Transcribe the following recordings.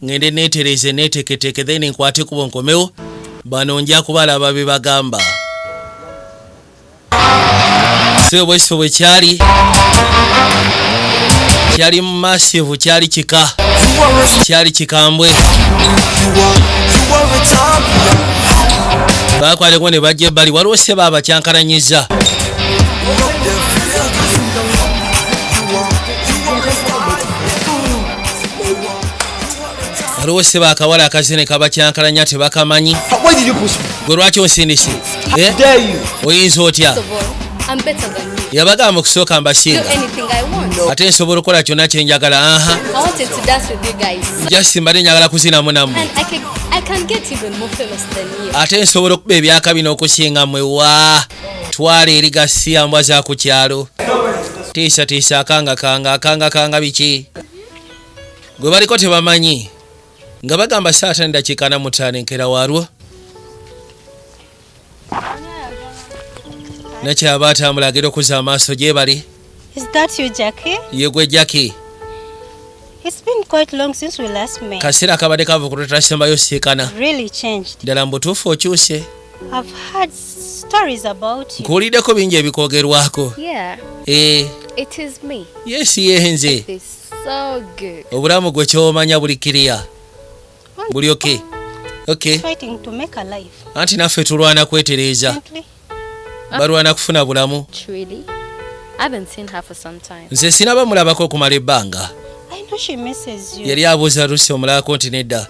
ngende netereze neteketeke then nkwate kubo nkomewo bano nja kubalaba bebagamba so bweso bwekyali kyali mumasivu kyali kika kyali kikambwe bakwateko ne bajja ebbali waliwo seba abakyankalanyiza waliwo seba akawala akazine kabakyankalanya tebakamanyi gwe lwaki onsindisi eh? oyinza otya yabagamba okusooka mbasinga ate nsobola okukola kyonna kyenjagala aha jasimbade njagala kuzinamu namu ate nsobola okuba ebyaka bino okusinga mwewa twala eri gasiya mbwa za ku kyalo tiisa tiisa akanga kanga akanga kanga biki gwe baliko tebamanyi nga bagamba saatani dakiika na mutaano enkera waalwo nakyaba atambula agenda okuza amaaso gyebali Is that you, Jackie? yegwe jaki It's been quite long since we last met. kaseera kabadde kava kulutasimayo siikana Really changed. ddala mu butuufu okyuse I've heard stories about you. nkuwuliddeko bingi ebikwogerwako Yeah, Eh, it is me. yes yenze It's so good. obulamu gwe kyomanya buli kiriya buli oke oke Fighting to make a life. anti naffe tulwana kwetereeza Simply Ah. balwana kufuna bulamu nze sinaba mulabako okumala ebbanga yali abuuza rusi omulaako nti nedda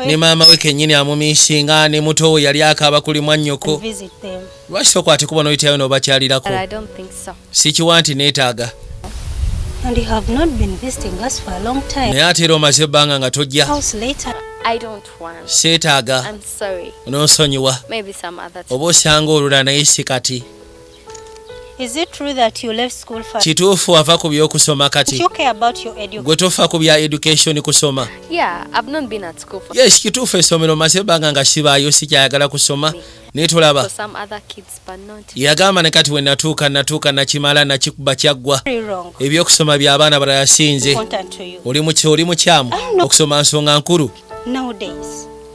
ne maama we kenyini amumisinga ne muto we yali akaaba kuli mwannyoko lwaki tokwate kuba noyitayo nobakyalirako sikiwa nti neetaaga naye ate era omaze ebbanga nga tojja seetaaga nonsonyiwa oba osanga olula naye si kati kituufu wava ku byokusoma kati gwe tofa ku bya education kusoma yes kituufu esomero maze ebbanga nga sibaayo sikyayagala kusoma naye tolaba yagamba ne kati wenatuuka natuuka nakimala nakikuba kyaggwa ebyokusoma byabaana balala sinze oli mukyamu okusoma nsonga nkulu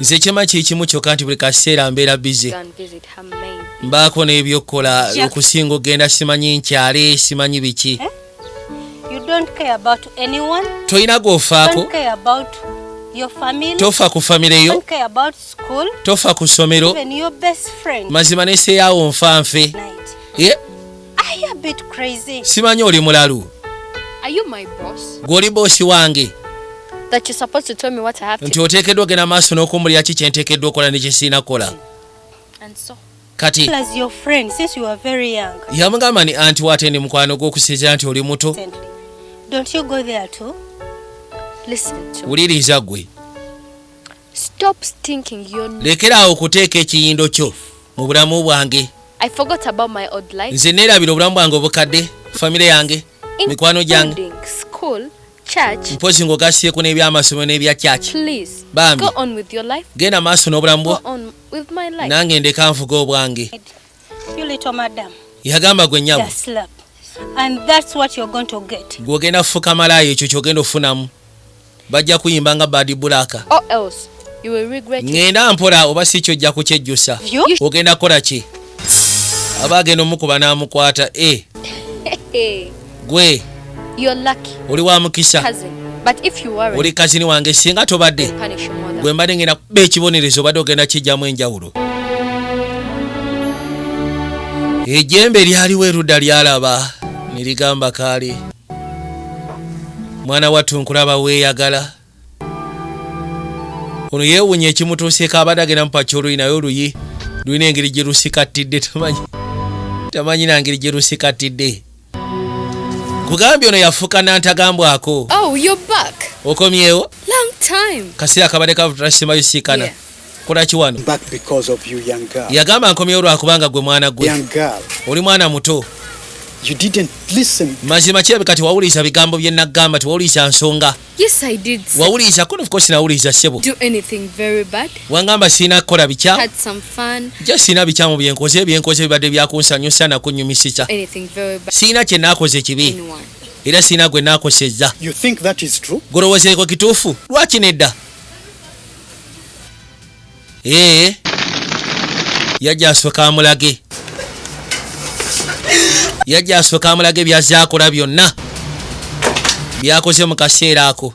nze kyema kyekimu kyoka nti buli kaseera mbeera bize mbaako n'ebyokukola okusinga okugenda simanyi nkyale simanyi biki eh? tolina gwofaako tofa ku famire yo tofa ku ssomero mazima neseyawo nfa nfe simanyi oli mulalu gwoli boosi wange nti oteekeddwa ogenda maaso n'okumbulira ki kyenteekeddwa okola ne kyesiina kukola kati yamugamba ni anti wate ndi mukwano gw'okusinzira nti oli muto wuliriza gwe Stop stinking your nose. Lekera awo okuteeka ekiyindo kyo mu bulamu bwange. I forgot about my old life. Nze neerabira obulamu bwange obukadde, famire yange, mikwano gyange. School, church. Mpozi ng'ogasseeko n'eby'amasomero n'ebya church. Please, Bambi. go on with your life. Genda maaso n'obulamu bwo. Go on with my life. Nange ndeka nvuga obwange. You little madam. Yagamba gwe nyabo. Just slap. And that's what you're going to get. Gw'ogenda kufuka malaayo ekyo ky'ogenda okufunamu. bajja kuyimba nga bad black or else you will regret ngenda mpola oba si kyo ojja kukyejjusa ogenda kukola ki aba agenda omukuba n'amukwata e eh. gwe oli wa mukisa oli kazini wange singa tobadde gwe mbadde ngenda kuba ekibonerezo obadde ogenda kijjamu enjawulo ejembe lyaliwo erudda lyalaba ne ligamba kaali mwana wattu nkulaba weeyagala ono yeewunya ekimutuuseeko abadde agenda mupakya oluyi naye oluyi lulina engeri gye lusikattidde tamanyi tamanyi na ngeri gye lusikattidde kugambye ono yafuuka nantagambwako oh, okomyewo kaseera kabadde kavutula simabisikana yeah. kolaki wano yagamba nkomyewo lwakubanga gwe mwana gwe oli mwana muto mazima kirabika tewawuliriza bigambo bye nagamba tewawuliriza nsonga wawuliriza kono ofcourse nawuliriza sebo wangamba sirina kukola bikyamu ja sirina bikyamu byenkoze byenkoze bibadde byakunsanyusa nakunyumisisa sirina kyenakoze kibi era sirina gwe nakoseza golowozeeko kituufu lwaki nedda ee eh. yajja asooka amulage yajja asooka amulage byazze akola byonna byakoze mu kaseera ako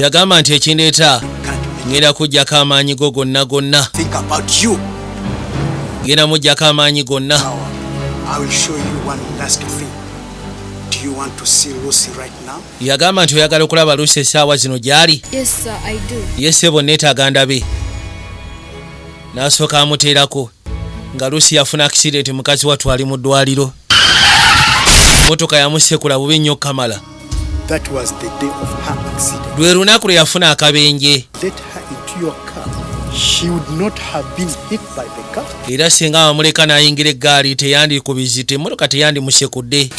yagamba nti ekindeeta ngenda kujjako amaanyi go gonna gonna ngenda mujjako amaanyi gonna yagamba nti oyagala okulaba luusi essaawa zino gy'ali yesebo neetaaga ndabe n'asooka amuteerako nga lusi yafuna akisidenti mukazi wattu ali mu ddwaliro motoka yamusekula bubi nnyo kamala lwe lunaku lwe yafuna akabenje era singa amamuleka n'ayingira eggaali teyandikubizi temotoka teyandimusekudde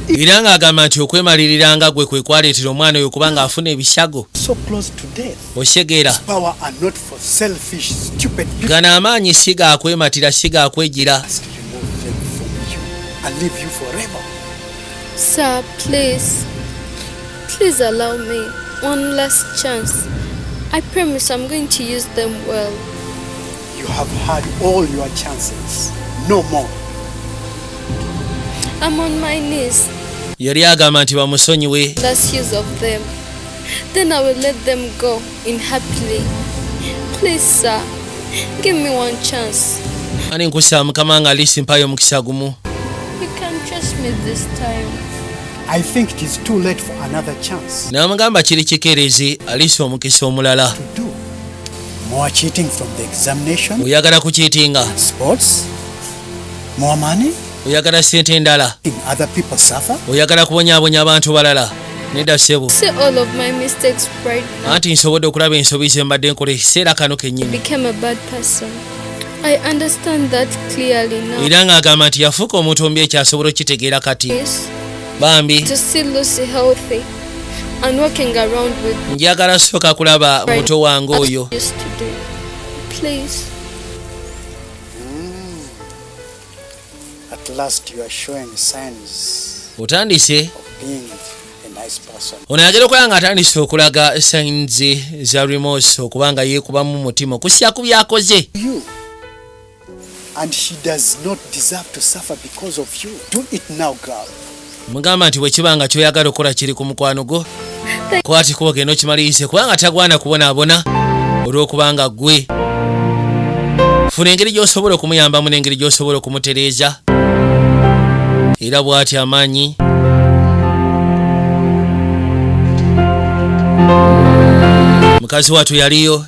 era ng'agamba nti okwemalirira nga gwe kwe kwaleetera omwana oyo kubanga afuna ebisago okitegeera gano amaanyi si gakwematira si gakwejira Sir, please, please allow me one last chance. I promise I'm going to use them well. You have had all your chances. No more. I'm on my knees. yali agamba nti bamusonyiwe Last years of them. Then I will let them go in happily. Please, sir, give me one chance. ani nkusaa mukama nga alisi mpayo omukisa gumu You can trust me this time. I think it is too late for another chance. n'amugamba kiri kikeerezi alisi omukisa omulala to do More cheating from the examination. Oyagala ku cheating. Sports. More money. Oyagala sente ndala. In other people suffer. Oyagala kubonya abonya abantu balala. Neda sebo. See all of my mistakes right now. Ati nsobode okulaba ensobi ze mbadde nkole sera kano kenyini. Became a bad person. I understand that clearly now. Ira nga agamba nti yafuka omuntu ombi ekyasobola okitegeera kati. Yes. Bambi. To see Lucy healthy. njagala soka kulaba muto wange oyo otandise ono ayagala okulaba nga atandise okulaga sayinzi za remos okubanga yeekubamu mutima okusiya ku byakoze And she does not deserve to suffer because of you. Do it now, girl. mugamba nti bwekiba nga kyoyagala okukola kiri ku mukwano gwo kwati kuba ogenda okimalirize kubanga tagwana kubonaabona olw'okubanga gwe funa engeri gy'osobola okumuyambamu n'engeri gy'osobola okumutereeza era bw'atyo amaanyi mukazi watu yaliyo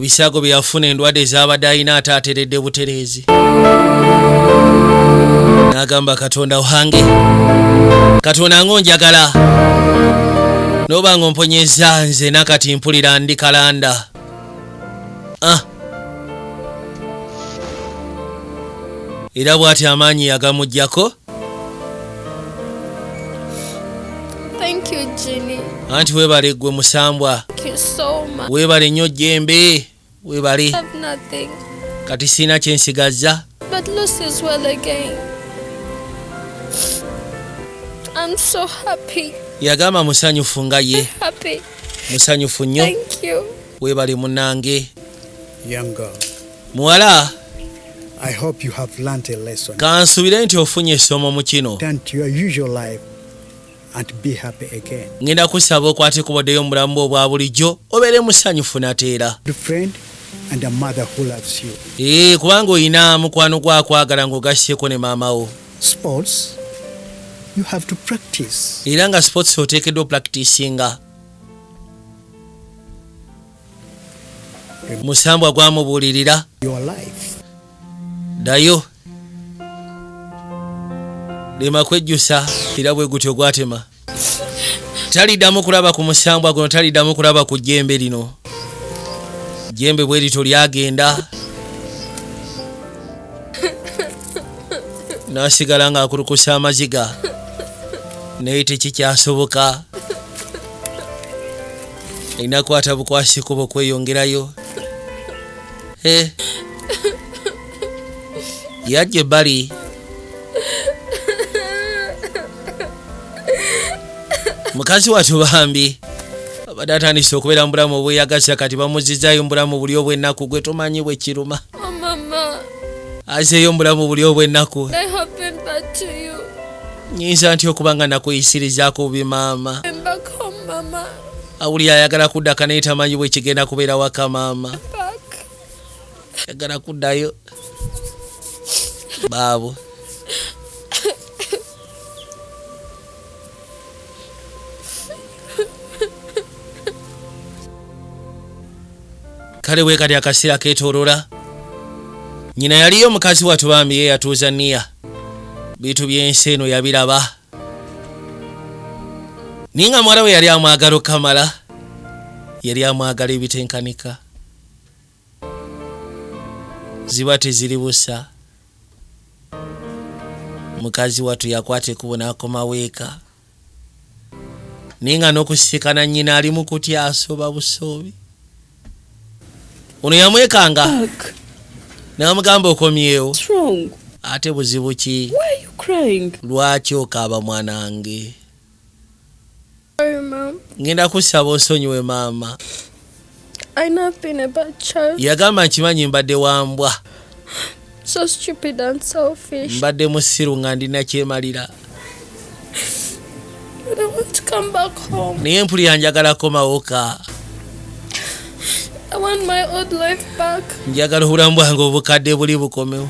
bisago byeyafuna endwadde zaabadde alina ate ateredde butereezi n'agamba katonda wange katonda nga onjagala noba nga omponyeza nze nakati mpulira ndi kalanda ah. era bwati amaanyi yagamugjako Thank you, Ginny. anti webale gwe musambwa Thank you so much. webale nnyo jembe webale have nothing. kati siina kyensigazza But Lucy's well again. I'm so happy. yagamba musanyufu nga ye Happy. musanyufu nnyo Thank you. webale munange muwala kansubire nti ofunye essomo mu kino ngenda kusaba okwate kubaddeyo mu bulamu bwe obwa bulijjo obeere musanyufu nateera ee eh, kubanga olina mukwano gwakwagala ng'ogasseko ne maama wo era nga sports oteekeddwa opractisinga musambwa gwamubulirira ddayo lema kwejjusa era bwe gutyo gwatema taliddamu kulaba ku musambwa guno taliddamu kulaba ku jjembe lino jjembe bwe lityo lyagenda n'asigala ng'akulukusa amaziga naye tekikyasoboka enakwata bukwasi kuba okweyongerayo Eh. yajja ebbali mukazi watu bambi abadde atandise okubeera mu bulamu obweyagasa kati bamuzizayo mu bulamu buli obw'ennaku gwe tomanyi bwe kiruma Oh, Mama, azeeyo mu bulamu buli obw'ennaku I have been bad to you. nyinza ntya okuba nga nakuyisirizaako bubi maama awulira ayagala kuddaka naye tamanyi bwe kigenda kubeera waka maama ayagala kuddayo baabo Kale wekati akasira ketorola nyina yaliyo mukazi watu bambi ye yatuuza niya bitu byensi eno yabiraba naye nga muwala we yali amwagala okukamala yali amwagala ebitenkanika ziba teziri busa mukazi watu yakwata ekubo nakomawo eka naye nga nokusisikana nyina ali mukutya asoba busoobi ono yamwekanga namugamba okomyewo ate buzibu ki lwaki okaaba mwanange ngenda kusaba osonyiwe maama yagamba nkimanyi mbadde wambwa so stupid and selfish mbadde musiru nga ndina kyemalira naye mpulira njagala komawoka njagala obulamu bwange obukadde buli bukomewo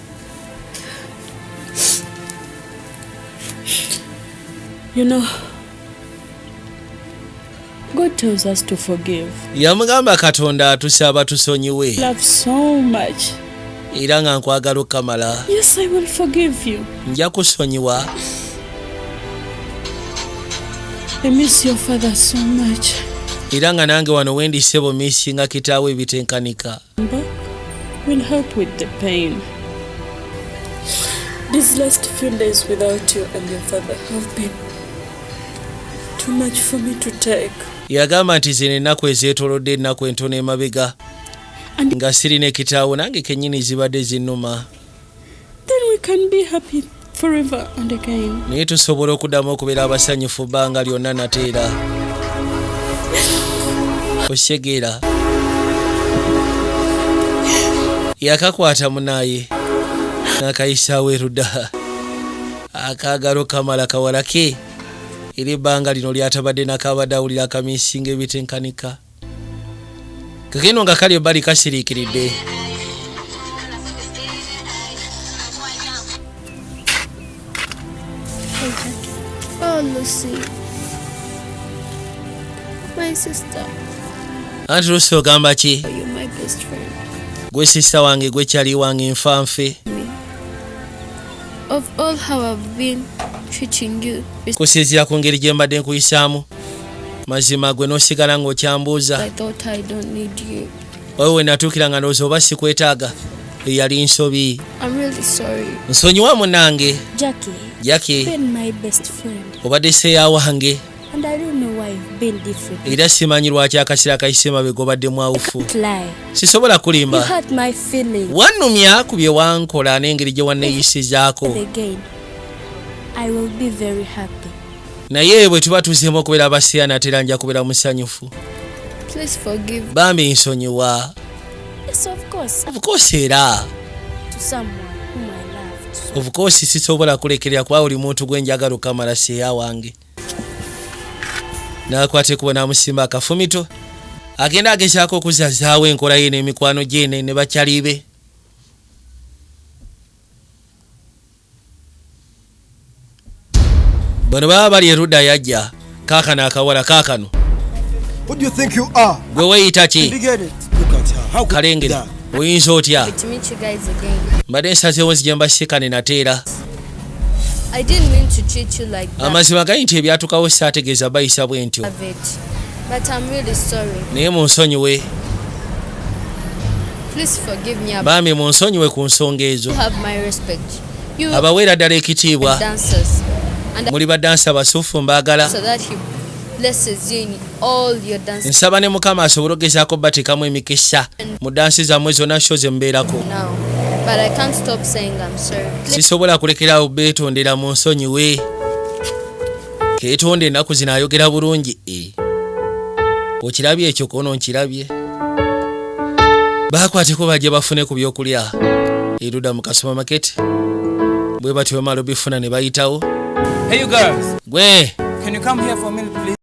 You know, God tells us to forgive. Yamugamba Katonda atusaba tusonyiwe. Love so much. Era nga nkwagala okamala. Yes, I will forgive you. Nja kusonyiwa. I miss your father so much. Era nga nange wano wendi sebo missinga kitaawe ebitenkanika. will help with the pain. These last few days without you and your father have been too much for me to take. yagamba nti zino ennaku ezeetolodde ennaku entono emabega nga sirina ekitaawo nange kennyini zibadde zinnuma then we can be happy forever and again naye tusobola okudamu okubeera abasanyufu banga lyonna nateera oshegera yakakwata munaye nakayisaawo eruda akagalo kamala kawalake era ebbanga lino lyatabadde nakabadde awulira akamisinga ebitenkanika kakeno nga kali ebbali kasiriikiridde Oh, Lucy. My sister. anti lusi ogamba ki You're my best friend. gwe sisita wange gwe kyali wange nfa nfe Of all how I've been treating you, kusinziira ku ngeri gye mbadde nkuyisaamu mazima gwe nosigala nga okyambuuza oyo wenatuukira nga ndowooza oba sikwetaaga eyali nsobi nsonyiwa munange jaki obadde seya wange era simanyi lwaki akasira kayise mabega obadde mwawufu sisobola kulimba wanumya ku bye wankola n'engeri gye wanneeyisizaako naye bwe tuba tuzemu okubeera abasiya natera nja kubeera musanyufu bambi nsonyiwa obukoosi era obukoosi sisobola kulekerera kuba buli muntu gwe njagala okamala seya wange nakwata ekubo namusimba akafumito agenda agezaako okuzazaawo enkola ye n'emikwano gyene ne bakyalibe bano baba bali eruda yajja kakano akawala kakano gwe weyita ki kalengera oyinza otya mbadde nsazewo nzija mbasikane nateera amazima gali nti ebyatukawo saategeeza bayisa bwentyo But I'm really sorry. Naye munsonyiwe. Please forgive me. Bambi munsonyiwe ku nsonga ezo. You have my respect. You abaweera ddala ekitiibwa. Dancers. Muli badansa basuffu mbaagala. So that he blesses you in all your dances. Nsaba ne Mukama asobole okugezaako batekamu emikisa mu dansi zammwe zonna sho ze mubeerako. Now, but I can't stop saying I'm sorry. Sisobola kulekerawo beetondera mu nsonyiwe. ketonda enaku zino ayogera bulungi e okirabye ekyo kono nkirabye bakwateko baje bafune ku byokulya eruda mu kasoma maketi bwe batyo bamala obifuna ne bayitawo hey gwe Can you come here for a minute, please?